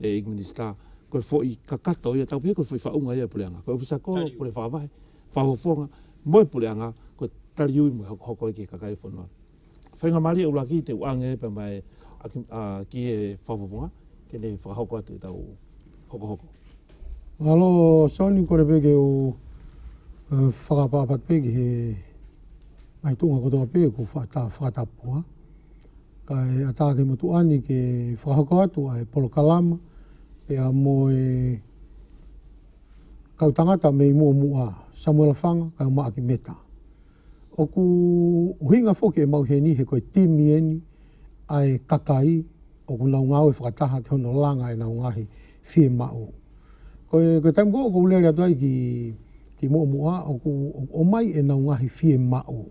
E Ing Minista, koe foʻi ka kata o ia tau piha koe foʻi wha unga ia pule anga, koe ofisa ko pule wha wahe, wha hofonga, moe pule anga, koe tari ui moe hokohoko i ke kakai fonua. Whainga maria ula ki te uange e pema e a ki e wha hofonga, ke nei whakahoko atu i tau hokohoko. Mahalo Soni kore pe ke u whakapapa pe ki he ngai tunga kotoa pe ko wha ta whakatapua. Kai a Tākemotuāni te whakahoko atu a he polokalama pea mō e kau tangata me i mua mua, Samuela Whanga, kai o Maaki Meta. Oku huinga foki e mau heni, he koe Timi eni, ae Kakai, oku nau ngau e whakataha ki hono langa e nau ngahi fie mauu. Koe, koe taimu koe oku leare atu ai ki, ki mua mua, oku, oku omai e nau ngahi fie mauu.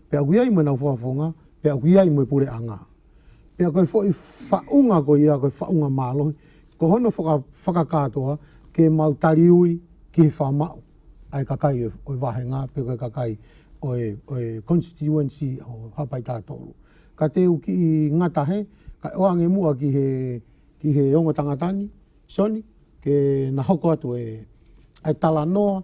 Pe aku ia i moe nau whawhawhonga, pe aku ia i moe pure a nga. Pe a koe fo'i whaunga ko ia koe whaunga malohi, ko hono whaka, whakakatoa ke mau tari ui ki he whamau. Ae kakai oe wahenga pe koe kakai oe, oe constituency o Hapai Tatoru. Ka teu ki i nga tahe, kai o ange mua ki he, ki he ongo tangatani, soni, ke na hoko atu e, ae tala noa,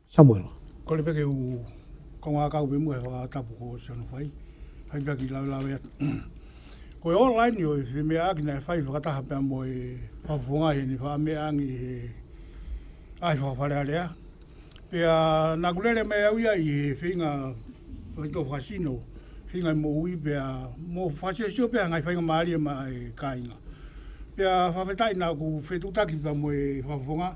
Samuel. Kore peke u ko nga kau me mua e whakatapu ko Ocean whai, hai pea ki laulawe atu. Ko e ora ai ni oe he mea akina e whai whakataha pea mo e whapwhongai he ni wha me angi he ai whawhareharea. Pea naku rere mai au ia i he whinga whai to whasino, whinga mo ui pea mo whasiosio pea ngai whainga marie ma e kainga. Pea whawhetai naku whetutaki pea mo e whapwhonga.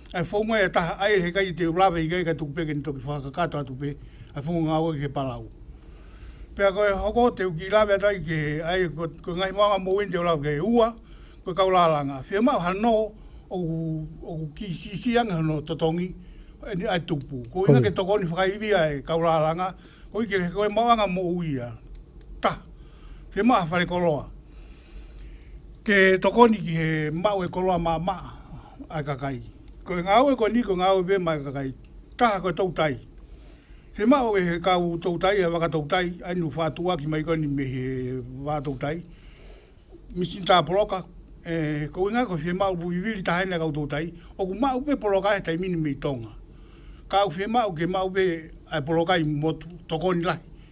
I whaunga e taha ai he kai i te rawe higa ika tuku peke ni toki whakakato atu pe i whaunga nga wai he palau. Pea koe hoko te uki rawe atu ai ke ai koe ngahi maunga mo wini te rawe ke ua koe kau la la nga whia mau hano oku oku ki si si anga hano totongi ni ai tupu ko inga ke toko ni whakaiwi ai kau la la nga ko ike he koe mau anga mo uia ta whia mau hawhare koloa. Ke tokoniki he mawe koroa ma ma ai ka kai. Ko nga awe ko ni ko nga awe be mai ka kai. Kaha ko tou tai. He mawe he ka u tou tai a waka tou tai ai nu fa tua ki mai ko ni me he va tou tai. Mi sin ta poroka e ko nga ko he mau bu viviri ta hene kau tou tai. O ku mau be poroka e tai mini mi tonga. Kau he mau ke mau be ai poroka i motu tokoni la.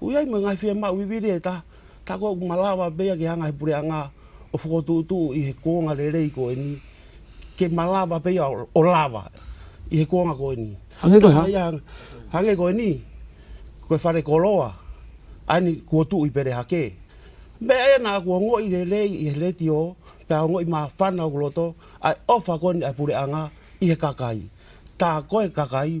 Ui ai me ngai whea mau iwi re ta ta ko malawa be agi hanga he pure anga o fo tu tu i he konga re re i ko ini ke malawa be ia o lava i he konga ko ini. Hange koe ha? Hange koe ni koe whare ko roa ai ni kua tu i pere ha ke me e na kua ngo i re re i he re ti o pe a ngo i ma whana o roto ai ofa koe ni ai pure anga i he kakai ta koe kakai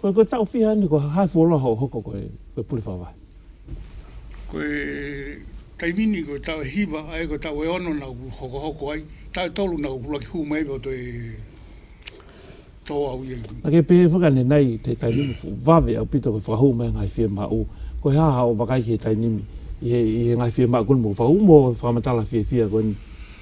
Koe koe tau whiha ni koe hai wholo ho hoko koe koe puri whawai. Koe taimi ni koe tau hiva ai koe tau e ono na ku hoko hoko ai tau tolu na ku laki hu mai roto e to au ye. Ake pe whaka ne nai te taimi ni fu vave au pito koe whakahu mai ngai whie ma u koe ha ha o vakai ki he taimi i he i he ngai whie ma ku mo whau mo whamatala whie whie koe ni.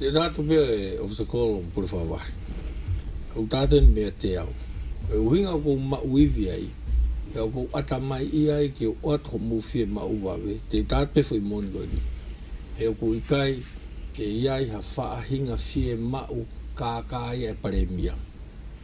Nē tātou pea e Officer Cole o Purawhāwai. Ko tātou nei mea te ao. E uhinga kou mauiwi ai, e ao kou atamai i ai ki o ua tokomowhia mauwawe, tē tātou whai moni koe nei. He ao kou ika ai, kei ai ha whaahinga whie mau kākā ia e paremia.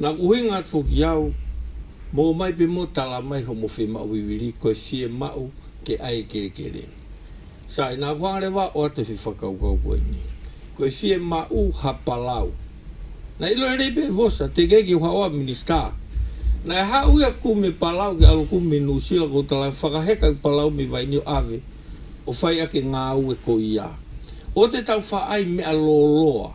Na ku huinga atu ki au, Mo mai pe mo tala mai ho mo whe mau wiwiri koe sie mau te ae kere kere. Sa ina ku angare wa oa te whi whakaukau koe ni. Koe sie mau ha palau. Na ilo rei pe vosa te kei ki ha oa minista. Na e ha ui aku me palau ki alo ku me nu sila ko tala whakaheka ki palau me vai ni ave o whai ake nga ue ko ia. O te tau wha ai mea lo loa.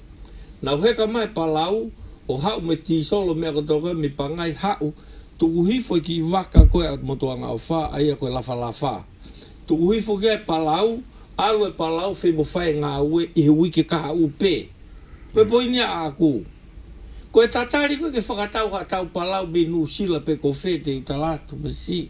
Na wheka mai Palau, o hau me ti solo mea ko to koe mi pangai hau, tukuhi foi ki waka koe a motuanga o wha, aia koe lafa la wha. Tukuhi foki ai Palau, alo e Palau fei mo whai nga ue i he wiki kaha upe. Koe poinia a aku. Koe tatari koe ke whakatau ha tau Palau me Nu Sila pe ko whe te uta la tu me si.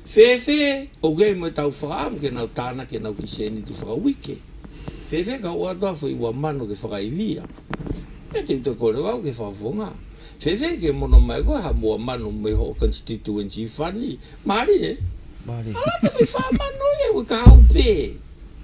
Whēwhē, Okay, moe tāu whakaaro kia nau tāna, kia nau ki Seni ki whakawike. Whēwhē, Ka oa toa whai ua mano ke whakaiwia. Mea kei tō kōrero au ke whawhongā. Whēwhē, Ke mono mai koe ha mua mano me ho constituency whani. Mārie? Mārie. Arā te whai whā mano ia, we ka hau pē.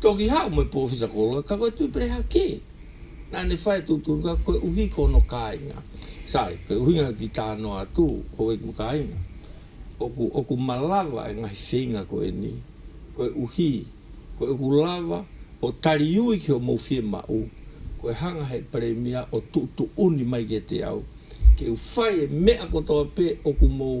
Toki hau me Powhisa Koroa, ka koe tū pereha kē? Nā, ne whaia tū tūruka, koe uhi ko ono kāinga. Sorry, koe uhi ngau ki tā noa tū, ko wei ku kāinga. Oku, oku ma lava e ngahi wheinga ko eni, koe uhi, koe uku lava, o tari ui ki ho mou whie ma u, koe hanga hei paremia o tū tū uni mai ke te au, ke u whai e mea kotoa pē oku mou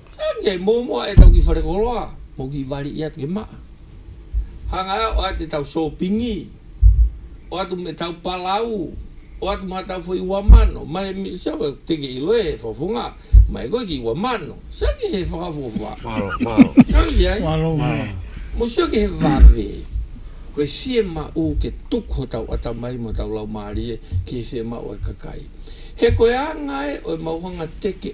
Ānei i momoa e tau ki Wharekoroa mō ki Wari i a Te Maa. Hangaia oa te tau sōpingi, oa tu me tau palau, oa tu ma tau fo iwa mano, mai mi sia koe teke i loe he whawhunga, mai koe ki iwa mano, sia ki he whakawhawha. Maro, maro. Sia ki ai. Maro, maro. Mo sia ki he whave. Koe sie ma u ke tuk ho tau atamai mo tau lau marie ki he sie ma oe kakai. He koe a ngae oe mauhanga teke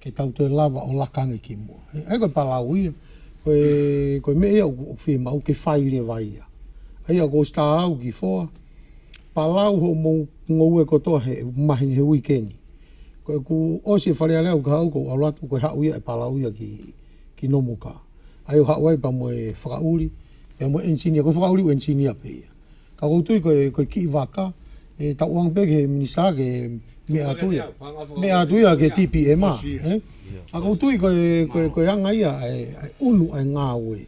Kei tau te lava o Lakange ki mua. Hei koe Palaowi, koe me ia o Whemau, kei Whairewa ia. Hei a koe staa au ki Whoa, Palau ho mo ngoue kotoa he mahi he wikeni. Koe ku osi e whare alea uka au ko alo atu koe hau ia e Palau ia ki Nomuka. Hei o hau ai pa moe whakauri, pa moe engineer, koe whakauri u engineer pe ia. Ka koutou koe kii waka e taoang pea ki he minisa ake e mea atu ia mea atu ia ke TPM a ka koutou koe koe anga ia ae unu ae ngawe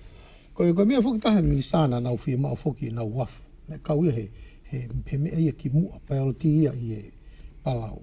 koe koe mea foki taha he minisa na nau whemau foki nau wafu me kau ia he he mea ia ki mua priority ia i e palau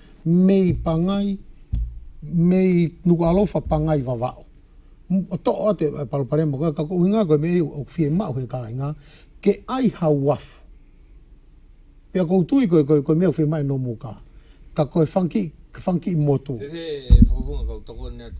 me i pangai, me i nuku alofa pangai vavao. Too a te Palapalema, koe ka koe winga koe me i o fie mao he ka inga, ke ai ha waf. Pea kou tui koe, koe, koe mea fie mai no mo ka. Ka koe funky, funky motu. He he whakafunga kau toko nea te.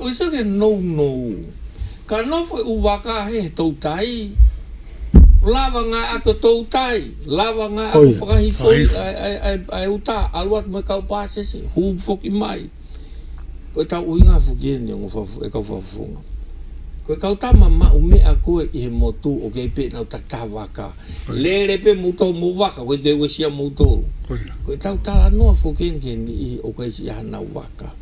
Usa ke nounou. Ka nowhe u wakahe he tou tai. Lawa nga ako tou tai. Lawa nga ako whakahifoi ai u ta. Alu atu me kau pasese. Hu foki mai. Koe tau ui nga foki e ni e kau whawhonga. Koe kau tama ma u mea koe i he motu o kei pe nau ta ta waka. Lele pe mu tou mo waka koe te wesia mu tou. Koe tau tala noa foki e ni i o kei si a nau waka.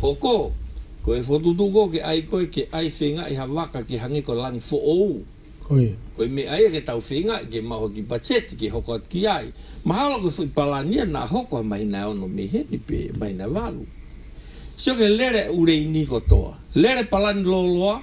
Hoko! Ko e whotutuko ke ai koe ke ai whenga i ha waka ke hangi ko Lang fo ou. Hoi. Ko i me ai e ke tau whenga i ke maho ki Pacheti ke hoko atu ki ai. Mahalo koe fo i Palania na hoko ha mahina e ono me he ni pe mahina e walu. Sio ke lere ure i ni kotoa. Lere Palani loloa.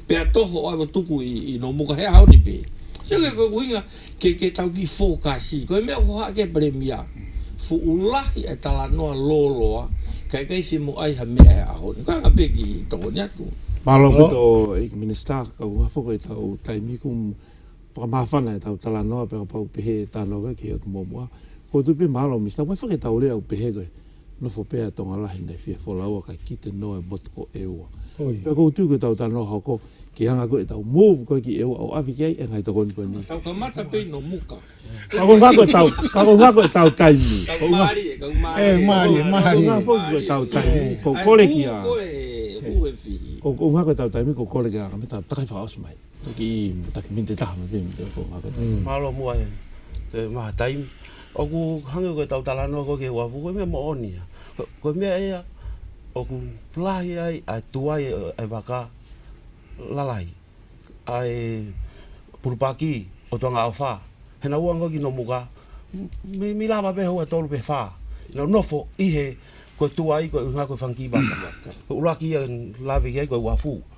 Pea toho I will tuku i i no moka he haoni pe Sio ke koe kuinga ke ke tau ki four ka si Koe mea ko ha ke pere mia Fu ulahi e tala noa lo loa Kai kai si mo ai ha mea he ahoni Koe anga pe ki toko ni atu. Malo ki to ik minista ka uha fo koe tau taimi kum whakamahawhana e tau tala noa pera pau pehe e tano koe ki hek momoa. Ko tu pe malo mista wai whaketau rea u pehe koe. Nofo pea e tonga rahi nei fia fo laua kai kite no e mot ko eua. Pea kou tu ko tau tano hau ko ki hanga koe tau move koe ki eua o awhiki ai e ngai to koni koni. Tau ka mata pei no muka. Ka ko nga koe tau ka ko nga koe tau taimi. Ka ko marie ka ko marie. E marie marie. Ka ko nga fo koe tau taimi ko kore ki a. Ko nga koe tau taimi ko kore ki a ka me ta takai whakaos mai. Taki i, taki me te taha me pēnei te ako ngā katoa. Mm. Mālo mua e, te maha taim. Oku hangi koe tau tala noa koe ke wafu, koe mea mo oni. Koe mea ea, oku plahi ai, ai tuai e, e waka, lalai. Ai purupaki, o tua ngā awha. Hena ua ngoki no muka, mi, mi lava pe hoa tolu pe wha. No nofo, ihe, koe tuai, koe unga, koe whanki waka. Koe uraki e, lavi ai koe wafu.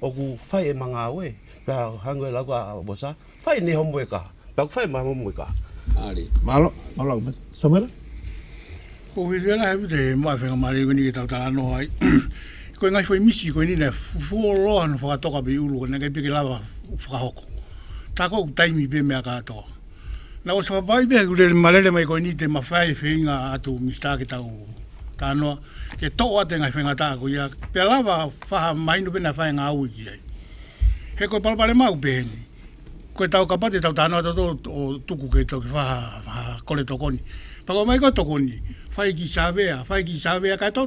Oku whai e manga au e, pea hang e lagu a Vosa, whai ne homu e ka, pea ku whai ma homu e ka. Ari. Malo, malo aku mate. Samera? Ko ke ke la he mate, ma whenga ma re koni ke tau tala no hai. Ko e ngai whai misi, ko e nina fu o loa no whakatoka pe uru, ko nake pe ke lawa whakahoko. Tako ku taimi pe mea ka atoa. Na ko te whakapae pea ku rere ma rere mai koe ni te ma whai whenga atu mi stake tau ta noa ke to a te ngai whenga ta ku ia pe lava whaha mai no pena whai nga ui ki ai he ko palo pale mau pe ni ko tau ka pate tau ta noa to o tuku ke to ki whaha whaha kore to koni pa ko mai ko to koni whai ki savea whai ki savea ka to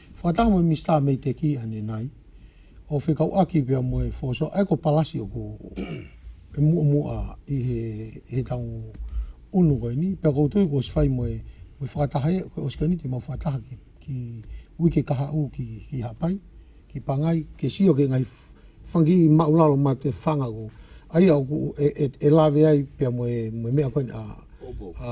Whakataka mai Mister mei te ki ane nai o whe kau aki pea mo e for so ai ko palasio ko e mua mua i he i he tau unu koe ni pea koutou ko si whai mo e mo e whakataha e koe osikani te mau whakataha ki ki ui ke kaha u ki ki hapai ki pangai ke sio ke ngai fungi i mau lalo ma te whanga ko ai au ku e e e lave ai pea mo e mo e mea koe a a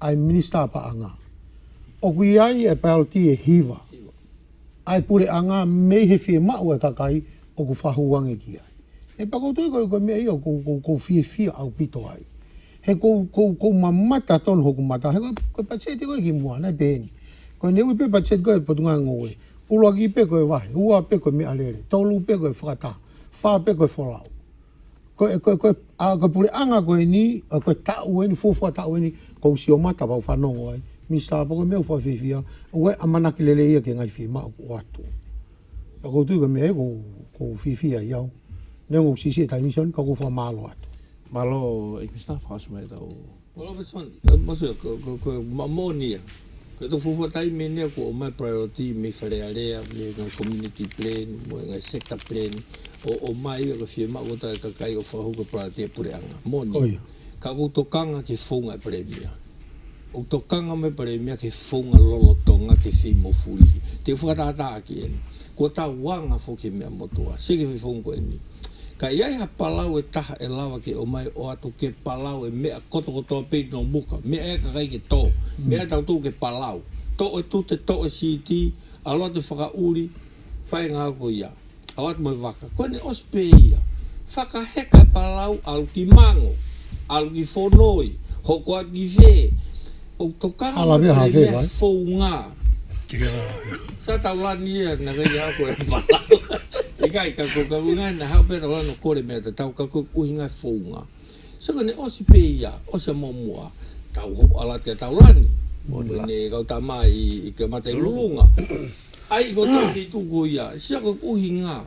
I Minister apa anga. Oku i ai e Peltie e hiva. I pure anga mei he fie maua takai oku fahu ange ki ai. He pakotoi koe kua mea ia kou kou kou fie fie au pito ai. He kou kou kou ma mata tonu hoku mata he koe patseti koe ki mua nei peni. Koe ne ui pe patset koe potunga ngo we. Ulua ki pe koe wahe, ua pe koe me alele, tolu pe koe whakata, fa pe koe folau. Koe, koe, koe, a, koe pure anga koe ni, a, koe taue ni, fofua taue ni, ko usi o matapa u whanongo ai, mi sa pa koe mea u whawhiwhia, ue a manaki lele ia ke ngai whi ma o atu. Ka koutu koe mea e ko, ko whiwhia i au. Neo ngau sisi e tai ni sa ni, ka kouwha malo atu. Malo, e Krista, whakasumai tau. Well that's fine, what's that, ko, ko, ko, ma moni ia. Kei tō whawhatai me nea ko o my priority me wharearea, me ngai community plan, me ngai sector plan, o, o my ia ko whia ma ko tae ka kai o whahau ko priority e pureanga, moni. Ko ia. Ka ko tō kanga ke whaunga e Paremia. Ko tō kanga me Paremia ke whaunga lolotonga ke whi mo furihi. Te whakatata aki eni. Ko ta wanga fo ke mea motoa. Seke whi whaunga ko eni. Ka iai ha palau e taha e lawa ke o mai o atu ke palau e mea kotokoto a pei no muka, mea e ka kai ke to, mea e tautou ke palau, to e tute, to e CT, aloa te whakauri, whai nga au ko ia. Au atu mai waka, koe ne os pe ia, whaka heka palau alu ki mango, alu ki fonoi, hoko atu ki whee, Ko Karanga te mea fou nga. Sa tau la ni e na rei a koe ma la. I kai ka ko ka wina na hau pera la no kore mea te tau ka ko uhi ngai fou nga. Sa ka ne osi pe ia, osi a mo mua, tau ho ala te tau la ni. Mo ne ne kau ta ma i i ke mate lulunga. Ai ko tau te tu ko ia, sa ka uhi nga.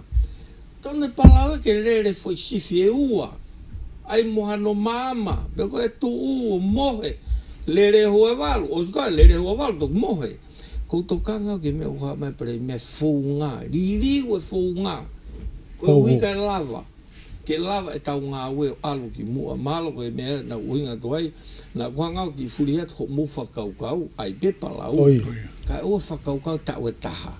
Tonu palau ke rere foi sifi e ua ai moha no mama me koe e tu u o mohe lere ho e walu o ska lere ho e walu tok mohe koutou ka ngau ke me u ha me pere me fou nga riri we fou nga koe ui ka lava ke lava e tau nga we o alu ki mua malo koe me na ui nga toai na koha ngau ki furi hat ho mo fa kau kau ai pe palau ka ua fa kau kau ta we taha.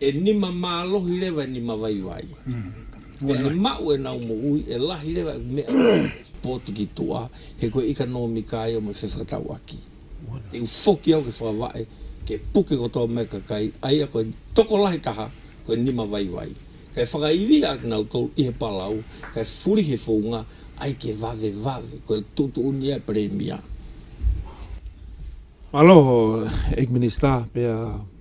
E nima ma lohi rewa e nima waiwai. Pea he mau e nau mo ui e lahi rewa e mea potiki toa he koe ika no mi kai o me whewha tau aki. Te u foki au ke whakawae, ke puke ko toa mea kakai, aia koe toko lahi taha, koe nima waiwai. Kai whakaiwia ak nau tolu i he palau, kai furi he founga, ai ke wawe wawe, koe tutu uni ai Premier. Aloha, Ag Minister, pea.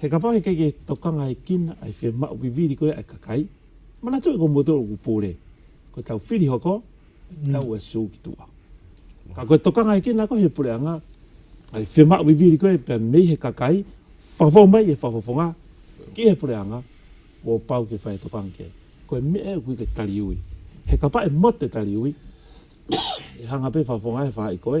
He kapa he keke to kanga e kina ai whe ma upi viri koe ai kakai mana toi ko motor o kupore ko tau whiri hoko tau e su ki tua ka koe to kanga e kina ko he pure anga ai whe ma upi viri koe pe mei he kakai whawho mai e whawho fonga ki he pure anga o pau ke whae to kanga ke koe me e kui ke tari ui he kapa e mote tari ui e hanga pe whawho ngai wha i koe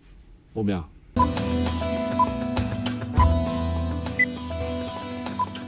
o mea.